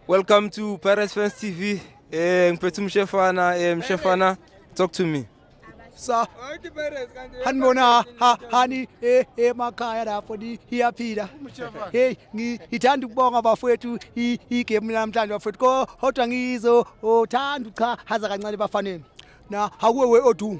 Welcome to Pirates Fans TV. Eh ngiphethe umshefana, eh mshefana talk to me. Sa. Hanibona ha hani eh emakhaya lapho ni iyaphila. Hey ngithanda ukubonga bafowethu igame namhlanje bafowethu ko hodwa ngizo othanda uchahaza kancane bafaneni. Na hakuwe we odu.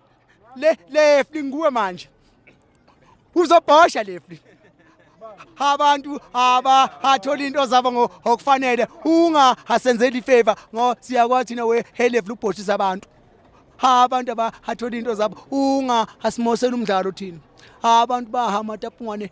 le lefli nguwe manje uzobhosha lefli abantu aba athola into zabo ngokufanele unga asenzeli ifavor ngo siyakwazi thina we helefli ubhoshisa abantu abantu aba athola into zabo unga asimosela umdlalo thina abantu bahamba tapungwane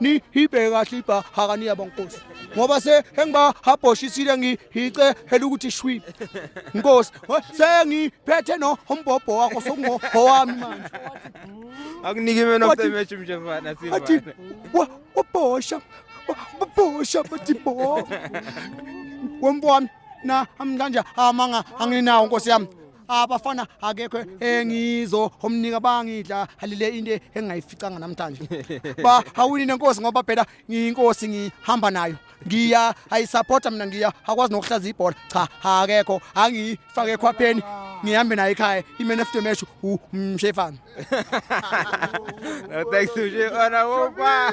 ni hibheke kahle ibha hakani yabo nkosi ngoba se engiba habhoshisile ngihice hela ukuthi shwi nkosi sengiphethe no umbhobho wakho sokungo owami manje akunike mina osemeshi mje mfana siva athi wabhosha wabhosha bathi bo wembona na amkanje amanga anginawo nkosi yami abafana akekho engizo omnika bangidla halile into engayificanga namhlanje ba hawini nenkosi ngoba phela ngiyinkosi ngihamba nayo ngiya ayisupporta mina ngiya akwazi nokuhlaza ibhola cha akekho angifake ekhwapheni ngihambe naye ekhaya i-man of the match umshefana no thanks to you ona wopa